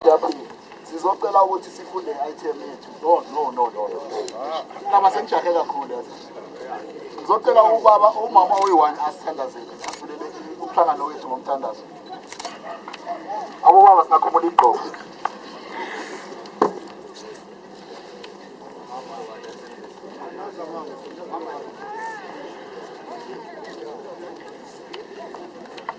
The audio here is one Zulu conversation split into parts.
Yaphila. Sizocela ukuthi sifunde item yethu. No no no no. Naba sengijahe kakhulu yazi. Ngizocela ubaba umama oyi-one asithandazele asivulele umhlangano wethu ngomthandazo. Abobaba singakhumula igqoko.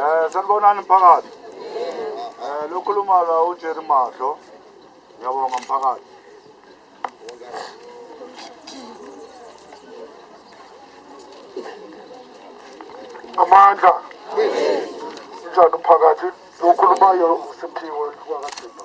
Eh sanibonani mphakathi. Eh lokhuluma la uJerry Mahlo. Ngiyabonga mphakathi. Amandla. Njalo phakathi lokhulumayo uSiphiwe kwakaThixo.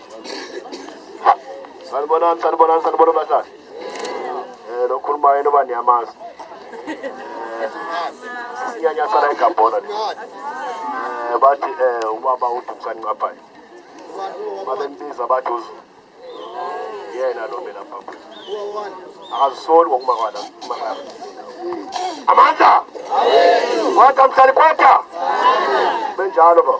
Sanibonani, sanibonani, sanibonani bahlali. Eh lokhuluma yena oba niyamazi. Eh, Sinyanya sala egabhola le. Eh bathi eh ubaba uDumsani Nqaphayi. Babembiza bathi uzu. Yena lo mina baba. Akazisoli ngokuma kwala. Amandla. Kwata mhlali kwata. Benjalo baba.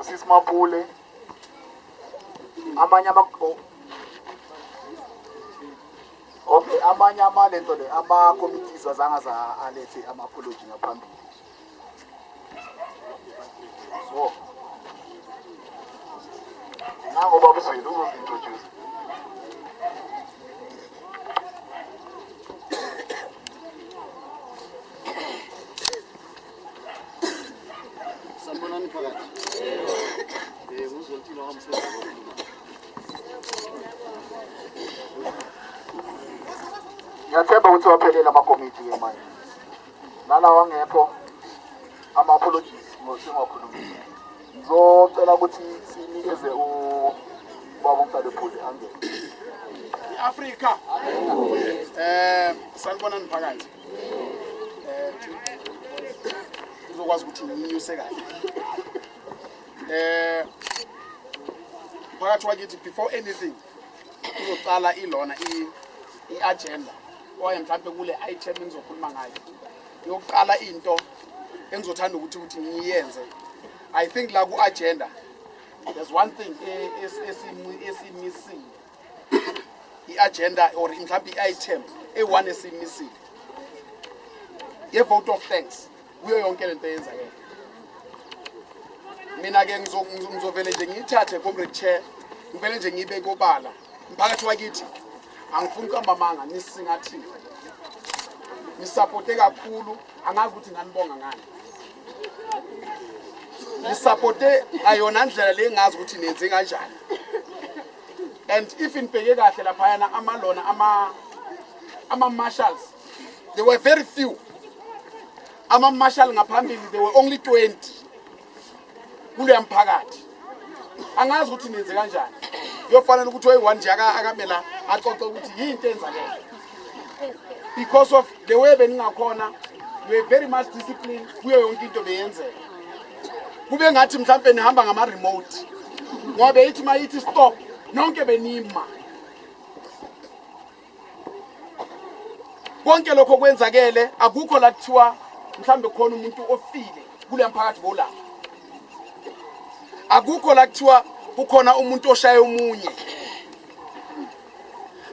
usisi Mapule amanye ama oh. Okay amanye amalento le ama committees wazanga za alethe ama apology ngaphambili so nango baba Zulu uzozintroduce Sanibonani phakathi. Eh, uzothini wamsebenzi wokulima. Ngiyathemba ukuthi waphelela amakomiti ke manje. Nalawa ngekho ama apologies ngosingakhulumile. Ngizocela ukuthi sinikeze u baba umdala ephuli angene. I-Afrika. Eh, sanibonani phakathi. uzokwazi ukuthi unyuse kahle eh phakathi wakithi before anything uzoqala ilona i-agenda oye mhlawumbe kule item engizokhuluma ngayo yokuqala into engizothanda ukuthi ukuthi ngiyenze i think la ku-agenda there's one thing e, esimissing i-agenda or mhlawumbe i-item eyi-one esiyimisile ye-vote of thanks kuyo yonke le nto eyenzakele mina-ke ngizovele nje ngiyithathe comrade chair ngivele nje ngibe kobala mphakathi wakithi angifuni ukuhamba amanga nisingathile nisapote kakhulu angazi ukuthi nganibonga ngani nisapote ngayona ndlela le ngazi ukuthi nenze kanjani and if nibheke kahle laphayana amalona ama-marshals they were very few ama-marshal ngaphambili they were only 20 kuleya mphakathi angazi ukuthi nenze kanjani kuyofanele ukuthi oyi-one nje akame la axoxe ukuthi yinto enzakele because of the way beningakhona you were very much disciplined kuyo yonke into beyenzeka kube ngathi mhlawumbe nihamba ngama-remote ngoba beyithi uma yithi stop nonke benima konke lokho kwenzakele akukho la kuthiwa mhlawumbe khona umuntu ofile kuleya mphakathi bolapha akukho la kuthiwa kukhona umuntu oshaye omunye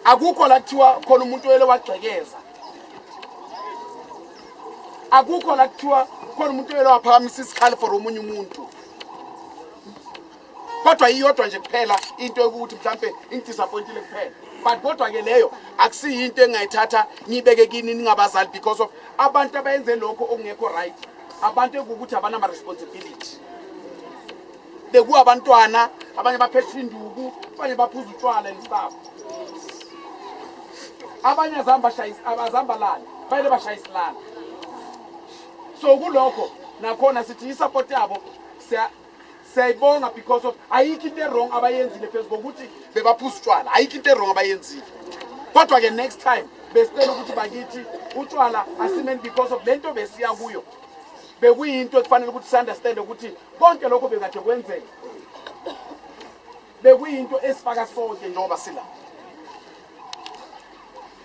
akukho la kuthiwa khona umuntu oyele wagxekeza akukho la kuthiwa khona umuntu oyele waphakamisa isikhali for omunye umuntu kodwa iyodwa nje kuphela into yokuthi mhlampe ingidisappointile kuphela but kodwa ke leyo akusiyo into engayithatha ngiyibeke kini ningabazali because of abantu abayenze lokho okungekho right abantu ekuwukuthi abanama-responsibility bekuwabantwana abanye baphethe induku abanye baphuza utshwala and stuff abanye azihamba azihamba lana bayele bashayisilana so kulokho nakhona sithi i-support yabo siyayibonga because of ayikho into erong abayenzile phezu kokuthi bebaphuza utshwala ayikho into erong abayenzile kodwa-ke next time besicela ukuthi bakithi utshwala asimeni because of le nto besiya kuyo bekuyinto ekufanele ukuthi si-understande ukuthi konke lokho bekade kwenzeka bekuyinto esifaka sonke njengoba sila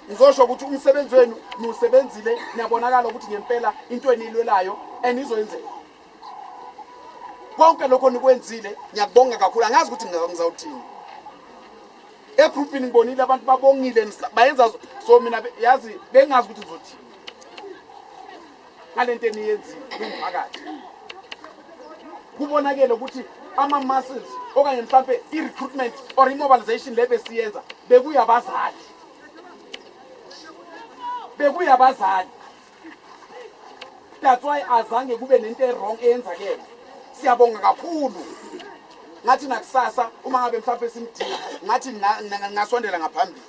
ngizosho ukuthi umsebenzi wenu niwusebenzile niyabonakala ukuthi ngempela into eniyilwelayo enizoyenzeka konke lokho nikwenzile ngiyakubonga kakhulu angazi ukuthi ngizawuthini egroupini ngibonile abantu babongile bayenza so mina yazi bengazi ukuthi ngizothini ngalento eniyenzile kumphakathi kubonakele ukuthi ama muscles okanye mhlambe i recruitment or immobilization le besiyenza bekuyabazali bekuyabazali that's why azange kube nento ewrong eyenzakele siyabonga kakhulu ngathi nakusasa uma ngabe mhlawumbe simdinga ngathi ngasondela ngaphambili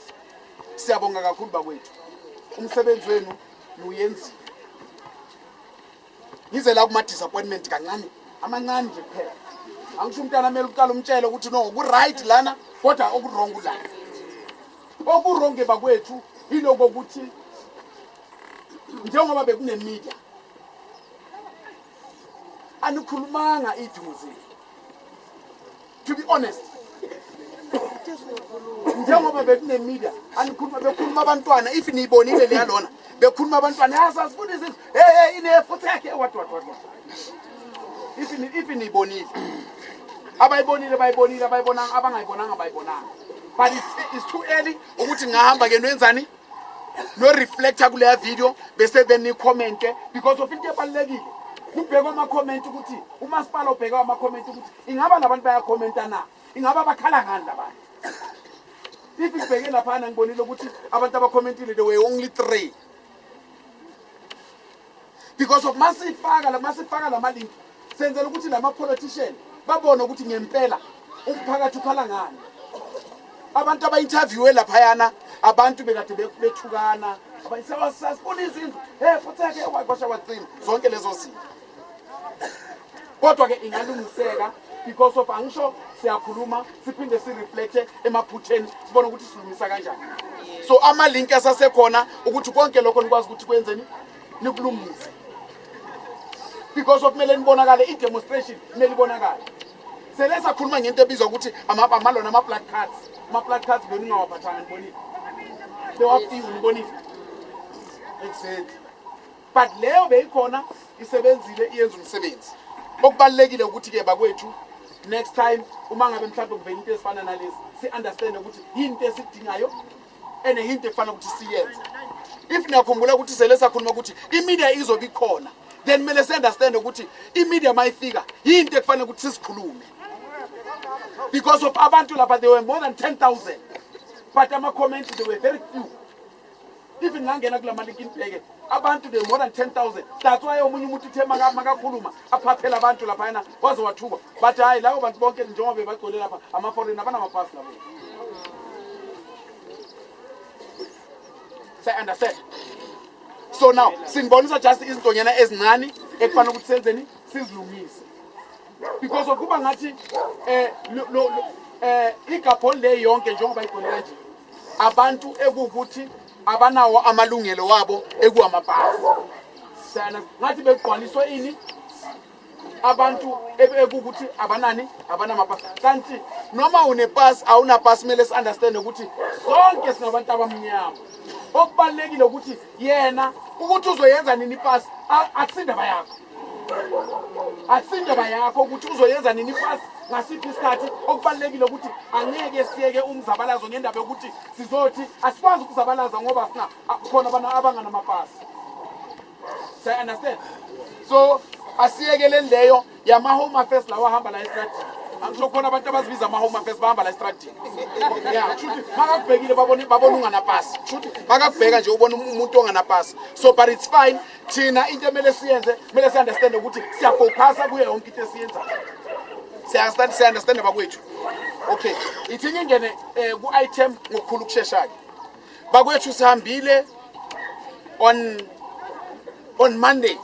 siyabonga kakhulu bakwethu umsebenzi wenu Uyenzile. Ngize la kuma disappointment kancane. Amancane nje kuphela. Angisho umntana amele uqala umtshele ukuthi no ku right lana kodwa oku wrong la. Oku wrong bakwethu iloko ukuthi njengoba bekune media anikhulumanga iduze to be honest njengoba bekunemedia anikhuluma bekhuluma abantwana if niyibonile leyalona bekhuluma abantwana yasasifuna ah, izinto hey hey inefuthi yakhe what what what if if niyibonile abayibonile bayibonile abayibonanga abangayibonanga bayibonanga but it's, it's too early ukuthi ngahamba ke nwenzani no reflector kuleya video bese then ni comment because of into ebalekile kubheka ama comment ukuthi umasipala obheka ama comment ukuthi ingaba labantu baya commenta na ingaba bakhala ngani labantu if ngibheke lapha ngibonile ukuthi abantu abacommentile they were only 3 because of masifaka la masifaka lama link senzela ukuthi lama politician babone ukuthi ngempela umphakathi ukhala ngani abantu abayinterviewe laphayana abantu bekade bethukana abayisewasasifuna izindlu hey futheke wakwasha wacima zonke lezo zinto kodwa ke ingalungiseka because of angisho siyakhuluma siphinde sireflecte emaphutheni sibone ukuthi silungisa kanjani so amalinki asasekhona ukuthi konke lokho nikwazi ukuthi kwenzeni nikulungise because of kumele nibonakale i-demonstration kumele ibonakale sele sakhuluma ngento ebizwa ukuthi amalona ama-black cards ama-black cards beningawaphathanga nibonile bewafiwe nibonile exactly but leyo beyikhona isebenzile iyenza umsebenzi okubalulekile ukuthi ke bakwethu next time uma ngabe mhlawumbe kuvela into ezifana nalezi si-understande ukuthi yini into esidingayo ene yini into ekufanele ukuthi siyenze if niyakhumbula ukuthi sele sakhuluma ukuthi imedia izobe ikhona then kumele si-understande ukuthi imedia uma ifika yini into ekufanele ukuthi sizikhulume because of abantu lapha they were more than 10 000 but ama-comments they were very few even ngangena kula maliki nibheke abantu they more than 10000 that's why omunye umuntu uthe makakhuluma aphaphela abantu lapha yena waze wathuka but hayi lawo bantu bonke njengoba bebagcwele lapha ama-foreign abanamapasi labo siyaunderstand so now sinibonisa just izintonyana ezincane ekufanele ukuthi senzeni sizilungise because of kuba ngathi eh lo eh igabhol le yonke njengoba igone kanje abantu ekukuthi abanawo amalungelo wabo ekuwamabhasi sana ngathi begqwaliswe ini abantu ekukuthi abanani abanamapasi kanti noma unepasi awunapasi kumele si-understande ukuthi sonke singabantu abamnyama okubalulekile ukuthi yena ukuthi uzoyenza nini ipasi akusindaba yakho akusindoba yakho ukuthi uzoyenza nini ifasi ngasiphi isikhathi okubalulekile ukuthi angeke siyeke umzabalazo ngendaba yokuthi sizothi asikwazi ukuzabalaza ngoba sina khona abantu abanganamapasi siyaunderstand so asiyekeleni leyo yama-home affairs lawa ahamba la estradini angisho khona abantu abazibiza ama-home affairs bahamba la estradini ya kushuthi makakubhekile babona unganapasi kushuthi makakubheka nje ubona umuntu onganapasi so but it's fine thina into emele siyenze kumele si-understande ukuthi siyafocusa kuyo yonke into esiyenzayo siyastand siya-understande bakwethu okay ithi ngingene um ku-item ngokukhulu ukusheshayo bakwethu sihambile on on monday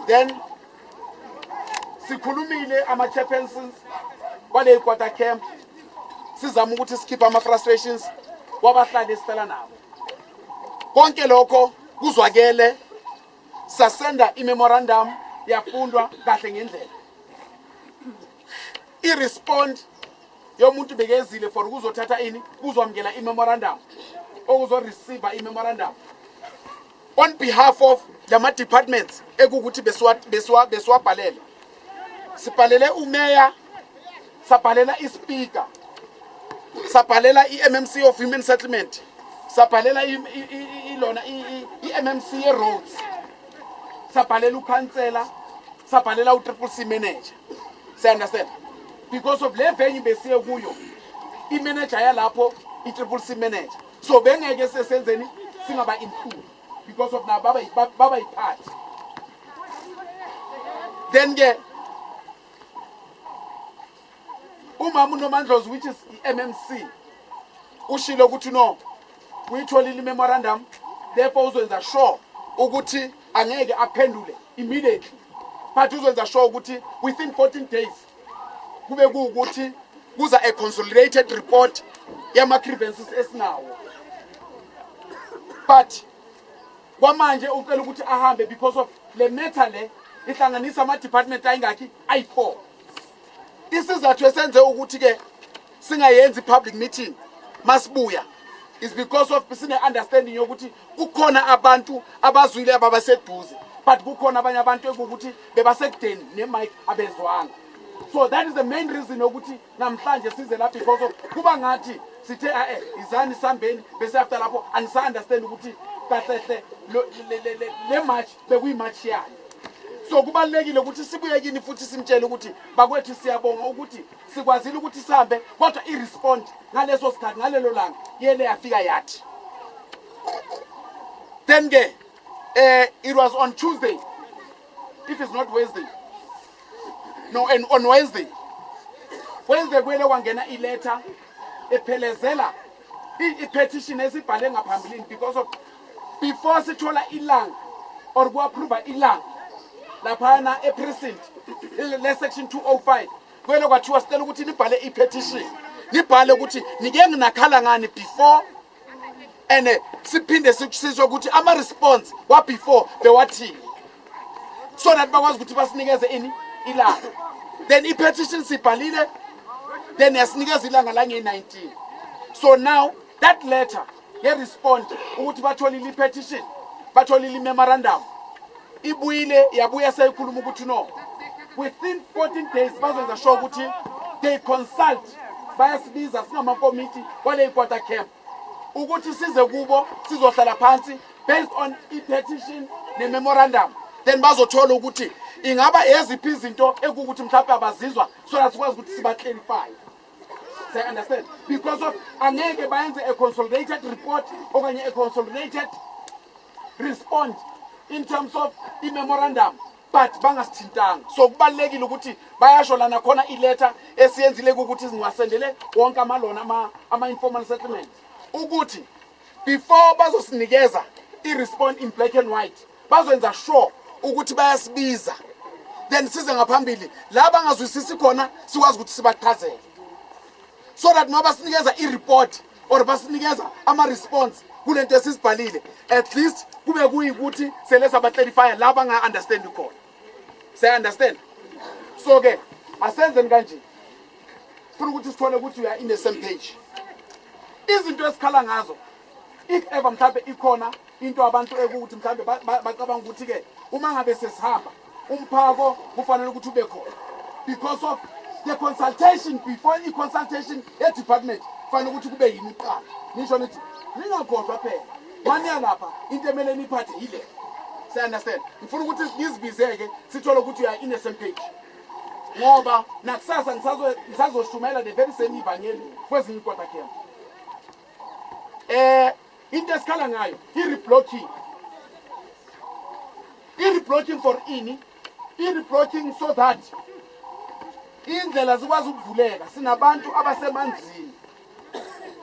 then sikhulumile ama-chairpersons kwale quarter camp sizama ukuthi sikhiphe ama-frustrations kwabahlali esihlala nabo konke lokho kuzwakele sasenda i-memorandum yafundwa kahle ngendlela i-respond yomuntu bekezile for ukuzothatha ini kuzwamukela i-memorandum okuzoreceiva i-memorandum on behalf of lama departments ekukuthi besiwa besiwa besiwabhalele sibhalele umeya sabhalela ispeaker sabhalela i-mmc of human settlement sabhalela ilona i-mmc ye-roads sabhalela ukhansela sabhalela u-triple c manager siyaunderstand because of le venue besiye kuyo imanager yalapho i-triple c manager so bengeke sesenzeni singaba include because of nabo baba yiphathi then ke umama unomandlozi which is i-mmc ushilo ukuthi no uyitholile i-memorandum therefore uzwenza sure ukuthi angeke aphendule immediately but uzwenza sure ukuthi within 14 days kube kuwukuthi kuza a consolidated report yama-grievances esinawo but kwamanje ucela ukuthi ahambe because of le matter le ihlanganisa ama-department ayingakhi ayi-four isizathu esenze ukuthi-ke singayenzi public meeting masibuya is because of sine understanding yokuthi kukhona abantu abazwile ababaseduze but kukhona abanye abantu ekuwukuthi bebasekudeni nemic abezwanga so that is the main reason yokuthi namhlanje size la because of kuba ngathi sithe ae izani sambeni bese after lapho anisa understand ukuthi kahlehle le march bekuyi march yani so kubalekile ukuthi sibuye kini futhi simtshele ukuthi bakwethu siyabonga ukuthi sikwazile ukuthi sihambe kodwa i-respond ngaleso sikhathi ngalelo langa yele yafika yathi then ke uh, it was on tuesday if it's not wednesday no and on wednesday wednesday kwele kwangena iletha ephelezela i-petition esibhale ngaphambilini because of before sithola ilanga or ku-approva ilanga laphana eprecinct le-section 205 Kwelo kwathiwa sicela ukuthi nibhale i-petition. Nibhale ukuthi nike nginakhala ngani before and eh, siphinde sikusizwe ukuthi ama response wa before bewathini. So that bakwazi ukuthi basinikeze ini ilanga. Then i-petition sibhalile then yasinikeza ilanga lange-19. So now that letter nge-respond ukuthi batholile i-petition batholile i-memorandum ibuyile yabuya seyikhuluma ukuthi no within 14 days bazenza sure ukuthi they consult bayasibiza singamakomiti kwaleyikwata camp ukuthi size kubo sizohlala phansi based on i-petition ne-memorandum then bazothola ukuthi ingaba eziphi izinto ekukuthi mhlawumbe abazizwa so that sikwazi ukuthi siba-clarifye Say understand because of angeke bayenze a consolidated report okanye a consolidated respond in terms of i-memorandum but bangasithintanga so kubalulekile ukuthi bayasho lana khona iletha esiyenzile ukuthi singasendele wonke amalona ama-informal settlement ukuthi before bazosinikeza i-respond in black and white bazokwenza sure ukuthi bayasibiza then size ngaphambili la bangazwisisi khona sikwazi ukuthi sibachazele so that noba sinikeza i-report or basinikeza ama-response kule nto esizibhalile at least kube kuyikuthi sele sabatlelifya la banga-understandi khona siya-understand so ke asenzeni kanje funa ukuthi sithole ukuthi uya in the same page izinto esikhala ngazo if ever mhlawumbe ikhona into abantu ekuthi mhlawumbe bacabanga ukuthi-ke uma ngabe sesihamba umphako kufanele ukuthi ube khona because of the consultation before i-consultation ye-department kufanele ukuthi kube yini kuqala nisho nithi ningakhohlwa phela maniya lapha into emele niphathe yile siyaunderstand ngifuna ukuthi ngizibize-ke sithole ukuthi uya in the same page ngoba nakusasa ngisazoshumayela the very same ivangeli kwezinye ikodakela eh into esikhala ngayo i-reblocking i-reblocking for ini i-reblocking so that indlela zikwazi ukuvuleka sinabantu abasemanzini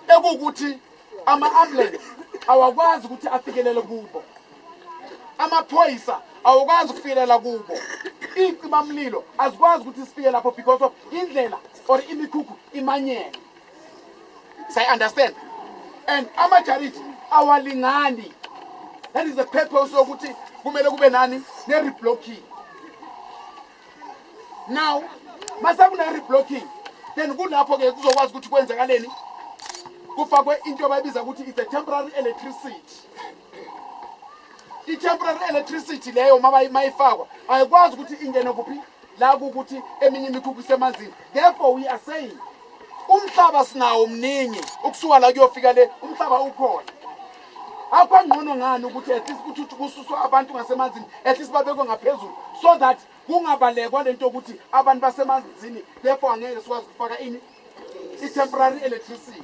ekuwukuthi ama-ambulance awakwazi ukuthi afikelele kubo amaphoyisa awukwazi ukufikelela kubo iy'cimamlilo azikwazi ukuthi sifike lapho because of indlela or imikhukhu imanyele say understand and amajarithi awalingani that is the purpose yokuthi kumele kube nani ne-reblocking now masekune-reblocking then kulapho-ke kuzokwazi ukuthi kwenzekaleni kufakwe into abayibiza ukuthi it's a temporary electricity i-temporary electricity leyo mayifakwa ayikwazi ukuthi ingene kuphi la kukuthi eminye imikhukhu isemanzini therefore we are saying umhlaba sinawo mningi ukusuka la kuyofika le umhlaba ukhona akwangcono ngani ukuthi at least kuthi kususwa abantu ngasemanzini at least babekwe ngaphezulu so that kungabalekwa lento yokuthi abantu basemanzini therefore angeke sikwazi ukufaka ini i-temporary electricity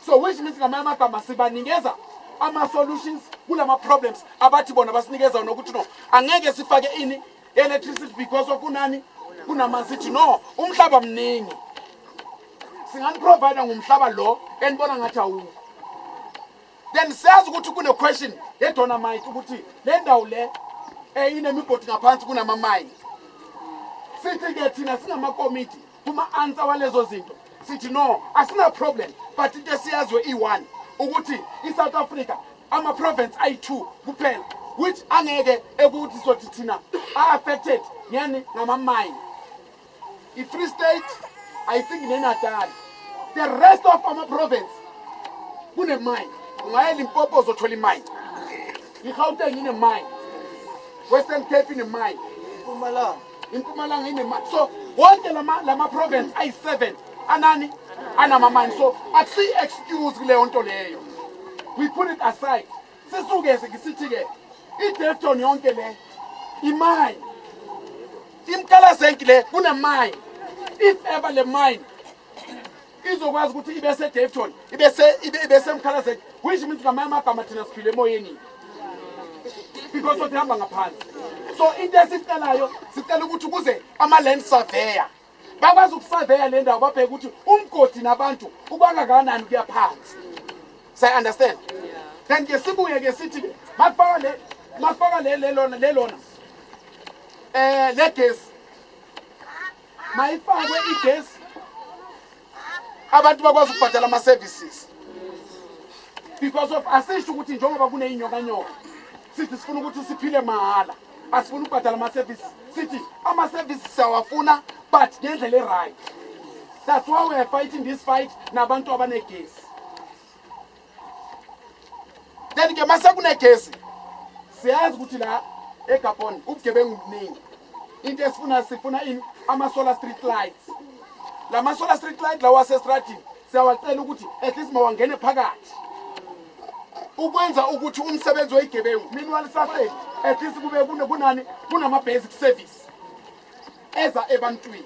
so which means ngamanye amagama sibanikeza ama-solutions kulama problems abathi bona basinikeza wona ukuthi no angeke sifake ini electricity because of kunani kunamanzi ithi no umhlaba mningi singaniprovida ngomhlaba lo enibona ngathi awukho then siyazi ukuthi kune-question yedonamite ukuthi le ndawo le um inemigodi ngaphansi kunamamayini sithi-ke thina singamakomiti Kuma-ansa walezo zinto sithi no asina problem but into esiyaziyo i-one ukuthi i-south africa ama-province ayi-two kuphela which angeke ekuthi sothi thina a-affected ngeni ngamamayini i-free state i think nenatali the rest of ama-province kunemayini ungaye limpopo uzothola imayini i-gauteng inemayini western cape inemayini impumalanga inemali so wonke lama lama province ayi-7 anani anamamani so akusiyi-excuse kuleyo nto leyo we put it aside sisukeze ngisithi-ke idefton yonke le imine imkalazenki le kunemine if ever le mine izokwazi ukuthi ibe sedevton ibe semkhalazeni which means ngamanye amagama thina siphile emoyeni because othi hamba ngaphansi so into esicelayo sicela ukuthi kuze ama-land surveyor bakwazi ukusaveya le ndawo babheke ukuthi umgodi nabantu ubangakanani kuya phansi sayi-understand then ke sibuye ke sithi makufaka le makufaka le lelona lelona eh legesi mayifakwe igesi abantu bakwazi ukubhadala ama-services because of asisho ukuthi njengoba kuneyinyokanyoka sithi sifuna ukuthi siphile mahhala asifuna ukubhadala ama-services sithi ama-services siyawafuna but ngendlela e-right that's why we are fighting this fight nabantu abanegesi then ke mase kunegesi siyazi ukuthi la egabon ubugebengu buningi into esifuna sifuna ini ama-solar street lights la ma-solar street light lawa asestradini siyawacela ukuthi at least mawangene phakathi ukwenza ukuthi umsebenzi weyigebengu meanwhile safeni at least kube kunani kunama-basic service eza ebantwini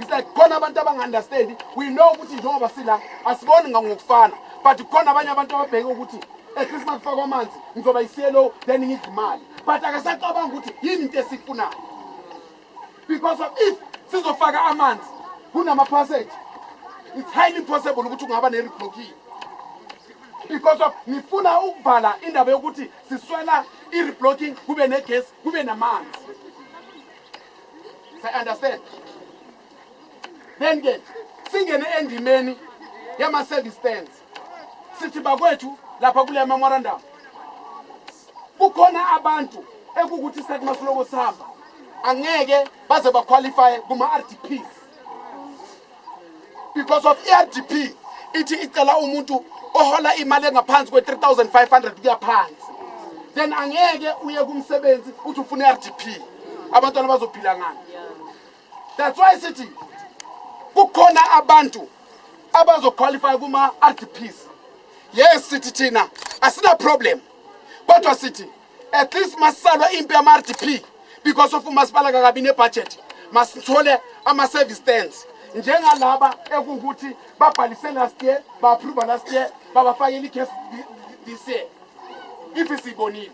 It's like khona abantu abangaunderstand we know ukuthi njengoba sila asiboni ngokufana but khona abanye abantu ababheke ukuthi eChristmas eh, kufakwa amanzi ngizoba yiselo then ngidla imali but akasacabanga ukuthi yini into esifunayo because of if sizofaka amanzi kunama passage it's highly possible ukuthi ungaba ne-reblocking because of nifuna ukuvala indaba yokuthi siswela i-reblocking kube negesi kube namanzi say understand then ke singene endimeni yama service stands sithi bakwethu lapha kule memorandum kukhona abantu ekukuthi isikhathi masiloko sihamba angeke baze baqualifye kuma-rdps because of irdp e ithi icela umuntu ohola imali engaphansi kwe-3500 kuya phansi then angeke uye kumsebenzi uthi ufuna i-rdp abantwana bazophila ngani that's why sithi kukhona abantu abazoqualifya kuma-rdps yes sithi thina asina problem kodwa sithi at least masisalwa impi yama-rdp because of umasipala kakabi nebhajethi masithole ama-service stands njengalaba ekuwukuthi babhalise last year ba-approva last year babafakela ikhesi this year ifi siyibonile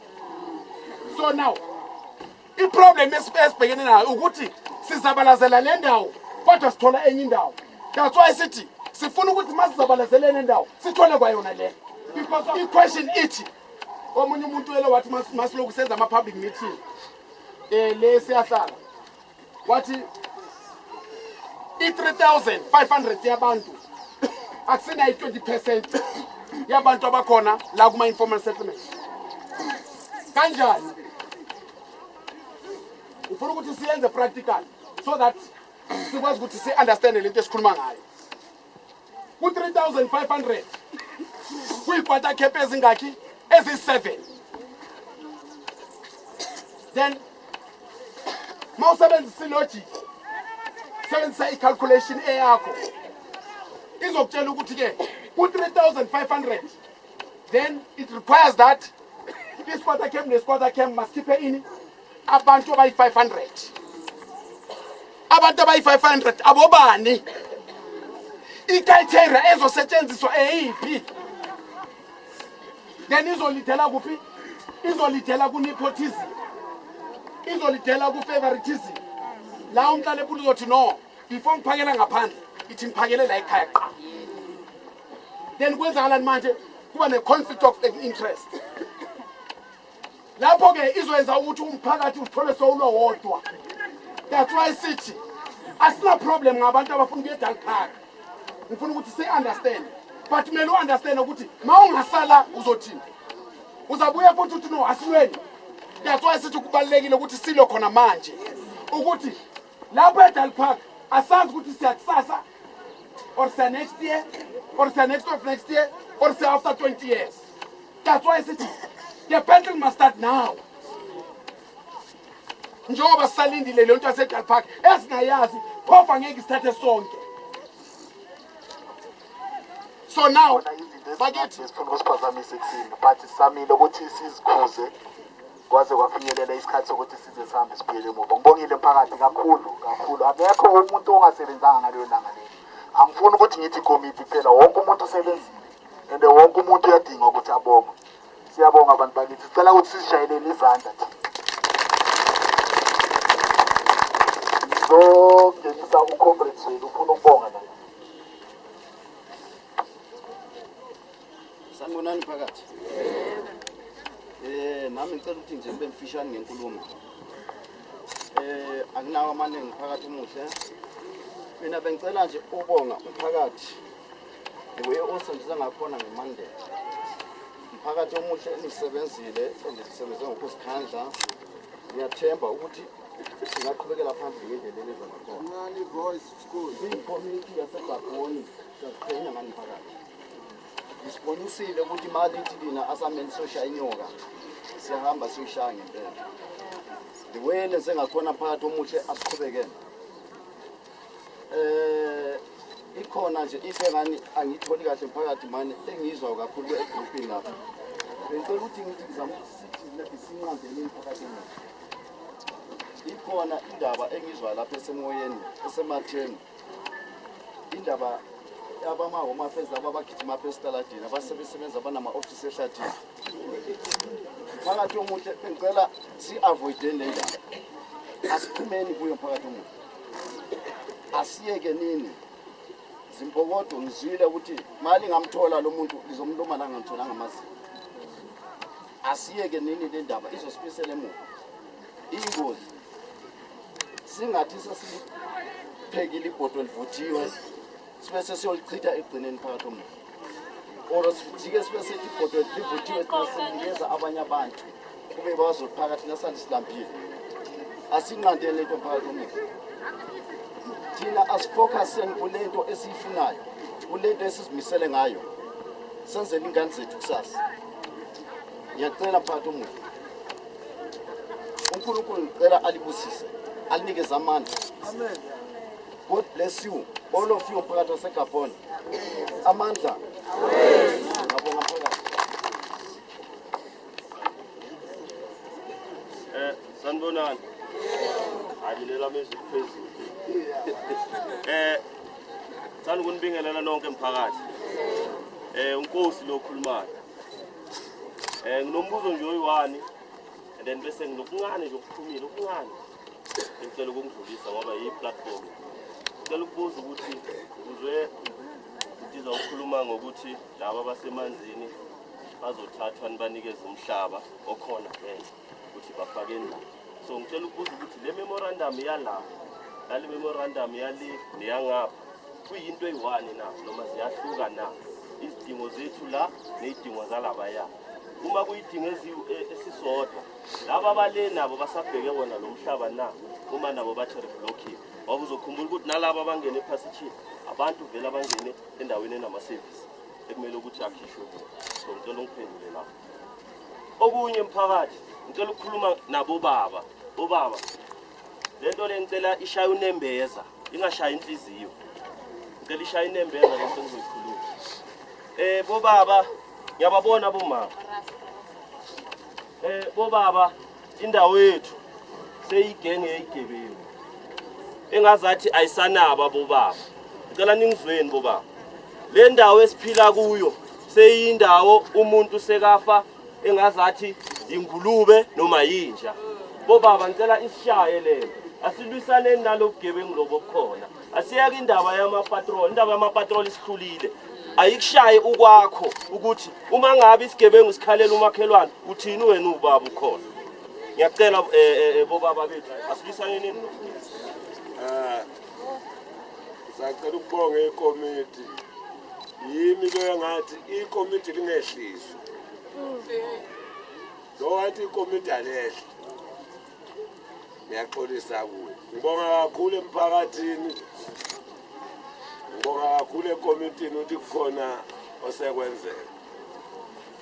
so now iproblem esibhekene nayo ukuthi sizabalazela le ndawo kodwa sithola enye indawo that's why sithi sifuna ukuthi masizabalazeleni endawo sithole kwayona le because i-question ithi omunye umuntu wele wathi masiloku senza ama-public meeting um le siyahlala wathi i-3500 yabantu akusina i-20 percent yabantu abakhona la kuma-informal settlement kanjani ufuna ukuthi siyenze practical so that sikwazi ukuthi si-understande le nto esikhuluma ngayo ku-3500 kwiikwata cap ezingakhi eziyi-7 then ma usebenzisa ilogic sebenzisa i-calculation eyakho izokutshela ukuthi ke ku-3500 then it requires that isikwata camp nesikwata camp masikhiphe ini abantu abayi-500 abantu abayi-500 abobani ikriteria ezosetshenziswa eyiphi then izolidela kuphi izolidela ku-nepotism izolidela ku-favoritism la umhlala ephula uzothi no before ngiphakela ngaphandle ithi ngiphakele la ekhaya qa then kwenzakalani manje kuba ne-conflict of interest lapho-ke izoyenza ukuthi umphakathi uthole sowulo wodwa that's why sithi asinaproblem ngabantu abafuna ukuya edal park ngifuna ukuthi si-understand but kumele u-understand ukuthi ma ungasala uzothini uzabuya futhi uthi no asilweni that's why sithi kubalulekile ukuthi silo khona manje ukuthi lapho edal park asazi ukuthi siyakusasa or siya next year or siya next of next year or siya after 20 years that's why sithi the battle must start now njengoba sisalindile leyo nto yasedal park esingayazi phofa ngeke isithathe sonke so now bakithi sifuna ukusiphazamisa ekuthini but samile ukuthi sizikhuze kwaze kwafinyelela isikhathi sokuthi size sihambe sibuyele emuva ngibongile mphakathi kakhulu kakhulu akekho umuntu ongasebenzanga ngaleyo langa leli angifuni ukuthi ngithi ikomiti kuphela wonke umuntu usebenzile and wonke umuntu uyadinga ukuthi abonge siyabonga abantu bakithi sicela ukuthi sizishayelele izandla ngizogenisa ucomrades wenu ufuna ukubonga naye Sanibonani phakathi. Eh nami ngicela ukuthi nje nibe mfishane ngenkulumo. Eh anginawo amaningi phakathi muhle. Mina bengicela nje ukubonga umphakathi. Nguye osondisa ngakhona ngemandela. Umphakathi omuhle enisebenzile endisebenze ngokuzikhandla. Ngiyathemba ukuthi singaqhubekela phambili ngendlela eleza ngakhona. Incane voice school. Ikomiti yasegabhoni sasiqhenya ngani phakathi. Isibonisile ukuthi imali ithi lina asameni soshaya inyoka siyahamba siyoshaya ngempela the way lenze ngakhona phakathi omuhle asiqhubekene eh ikhona nje into engani angiyitholi kahle phakathi mane engiyizwayo kakhulu egroupini lapha bengicela ukuthi ngithi ngizama ukuthi sithi lapho sinqandele phakathi ikhona indaba engizwa lapha esemoyeni esematheni indaba abama-home affairs laba abagijima apha esitaladini abasebesebenza abanama-ofisi ehlathini mphakathi omuhle bengicela si-avoideni le ndaba asiphumeni kuyo mphakathi omuhle asiyeke nini zimpokodo ngizwile ukuthi mali ngamthola lo muntu lizomluma la ngamthola ngamazinyo Asiyeke nini le ndaba izosibisela emuva. Ingozi. Singathi sesiphekile ibhodo livuthiwe sibe sesiyolichitha egcineni phakathi omuntu. Or sijike sibe sethi ibhodo livuthiwe sinikeza abanye abantu kube bazophakathi nasali silambile. Asinqandele into phakathi omuntu. Thina asifocuseni kule nto esiyifunayo, kule nto esizimisele ngayo. Senzele ingane zethu kusasa. Ngiyacela mphathi omuhle. UNkulunkulu ngicela alibusise, alinikeze amandla. Amen. God bless you. All of you mphakathi waseGabon. Amandla. Amen. Ngabonga mphakathi. Eh, sanibonani. Hayi lelami ezwi liphezulu. Eh, Ngithanda ukunibingelela nonke mphakathi. Eh uNkosi lo khulumayo. Eh nginombuzo nje oyiwani and then bese nginokuncane nje okuphumile okuncane. Ngicela ukungidlulisa ngoba yi platform. Ngicela ukubuza ukuthi ngizwe ndiza ukukhuluma ngokuthi laba basemanzini bazothathwa nibanikeze umhlaba okhona vele. ukuthi bafake na so ngicela ukubuza ukuthi le memorandum yala nale memorandum yale neyangapha kuyinto eyi-one na noma ziyahluka na izidingo zethu la ney'dingo zalabaya uma kuyidingo e, esisodwa laba abale nabo basabheke wona lo mhlaba na uma nabo bathi reblocking ngoba uzokhumbula ukuthi nalabo abangene ephasithini abantu vele abangene endaweni enamasevisi ekumele ukuthi akhishwe kuwo so ngicela ungiphendule lapho okunye mphakathi ngicela ukukhuluma nabo baba obaba lento le ngicela ishaya unembeza ingashaya inhliziyo ngicela ishaya inembeza lento ngizoyikhuluma eh bobaba ngiyababona bomama eh bobaba indawo yethu seyigenge yeyigebengu engazathi ayisanaba bobaba ngicela ningizweni bobaba le ndawo esiphila kuyo seyindawo umuntu sekafa engazathi ingulube noma yinja bobaba ngicela isishaye lento asilwisaneni nalobugebengu lobo bukhona asiyeke indaba yamapatrol indaba yamapatrol isihlulile ayikushaye ukwakho ukuthi uma ngabe isigebengu sikhalela umakhelwane uthini wena ubaba ukhona ngiyacela um eh, eh, eh, bobaba bethu asibisanenini um sacela ukubonga ikomiti yimi loyo ngathi ikomiti lingehliswa lo wathi ikomiti alehle ngiyaxolisa kuwe ngibonga kakhulu emphakathini ngibonga kakhulu ekomitini ukuthi kukhona osekwenzeka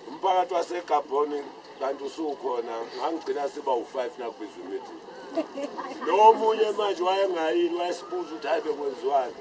umphakathi wasegabhoni kanti usukhona ngangigcina siba u-five nakubizwa imithi lo munye manje wayengayini wayesibuza ukuthi hayi bekwenziwani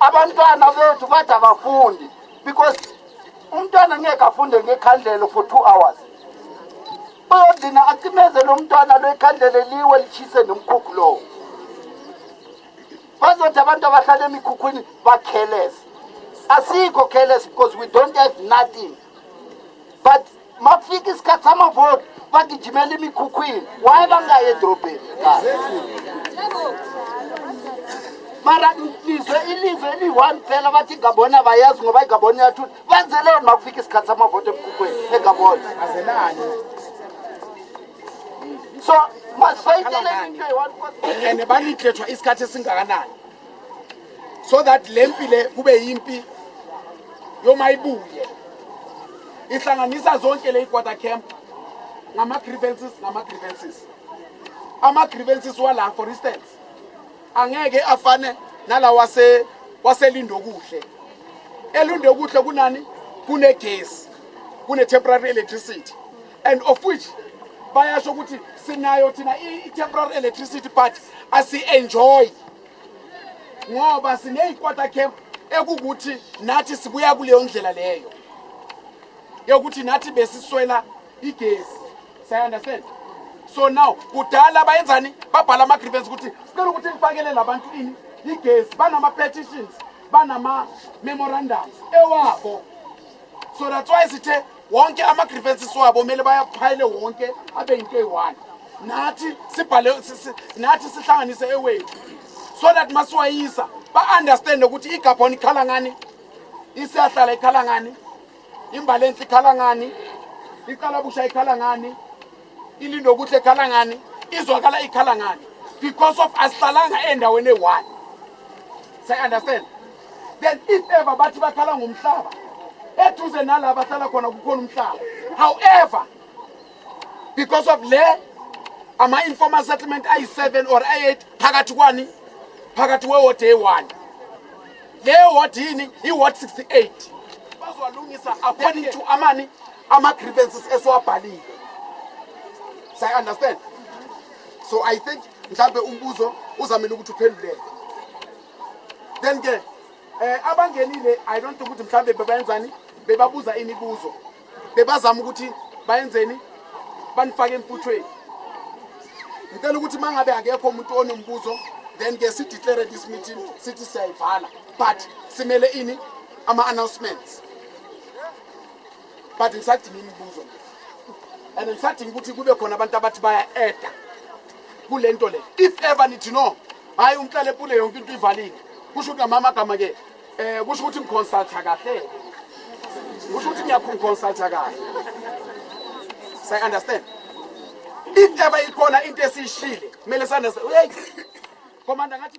abantwana bethu bathi abafundi because umntwana ngeke afunde ngekhandlelo for two hours uyodlina acimeze lo mntwana lwekhandlele liwe lishise nomkhukhu lowo bazothi abantu abahlala emikhukhwini bakhelese asikho careless because we don't have nothing but makufika isikhathi samavoti bagijimela imikhukhwini waye bangayi edrobheni mara ngizwe ilive eliyi-one phela bathi igabona bayazi ngoba igabona iyathula benzeleni makufika isikhathi samavoti emkhukhweni egabona so masifayitele into eyi-one and baniklethwa isikhathi esingakanani so that le mpi le kube yimpi yomayibuye ihlanganisa zonke le ikwata camp ngama-grievances ngama-grievances ama-grievances wala for instance angeke afane nala wase waselindokuhle elindokuhle kunani kunegesi kune-temporary electricity and of which bayasho ukuthi sinayo thina i-temporary electricity but asi-enjoy ngoba sineyikwata camp ekukuthi nathi sibuya kuleyo ndlela leyo yokuthi nathi besiswela igesi sayaunderstand so now kudala bayenzani babhala ama-grievance ukuthi sicela ukuthi ngifakele labantu ini igesi banama-petitions banama-memorandums ewabo so that's why sithe wonke ama-grievances wabo kumele bayaphayile wonke abe yinto eyi-one nathi sibhale nathi sihlanganise ewethu so that masiwayisa ba-understande ukuthi igabhoni ikhala ngani isiyahlala ikhala ngani imbalenhle ikhala ngani iqalabusha ikhala ngani ilindokuhle ikhala ngani izwakala ikhala ngani because of asihlalanga endaweni eyi-one say-understand then if ever bathi bakhala ngomhlaba eduze nala bahlala khona kukhona umhlaba however because of le ama-informal settlement ayi-seven or ayi-eight phakathi kwani phakathi wewodi eyi-one le wodi yini i-word 68 bazowalungisa according to amani ama-grievances esiwabhalile say understand so i think mhlambe umbuzo uzamele ukuthi uphenduleke then ke eh abangenile i don't think ukuthi mhlambe bebayenzani bebabuza imibuzo bebazama ukuthi bayenzeni banifake emputhweni ngicela ukuthi mangabe akekho umuntu onombuzo then ke si declare this meeting sithi siyayivala but simele ini ama announcements but ngisadinga imibuzo nje and ngisadinga ukuthi kube khona abantu abathi baya-eda kule nto le if ever nithi no hhayi umhlale pule yonke into ivalile kusho ukuthi namama agama-ke um eh, kusho ukuthi ngiconsultha kahle kusho ukuthi ngiyakhungiconsultha kahle say understand if ever ikhona into esiyishile kumele sandeseyeyi komanda ngathi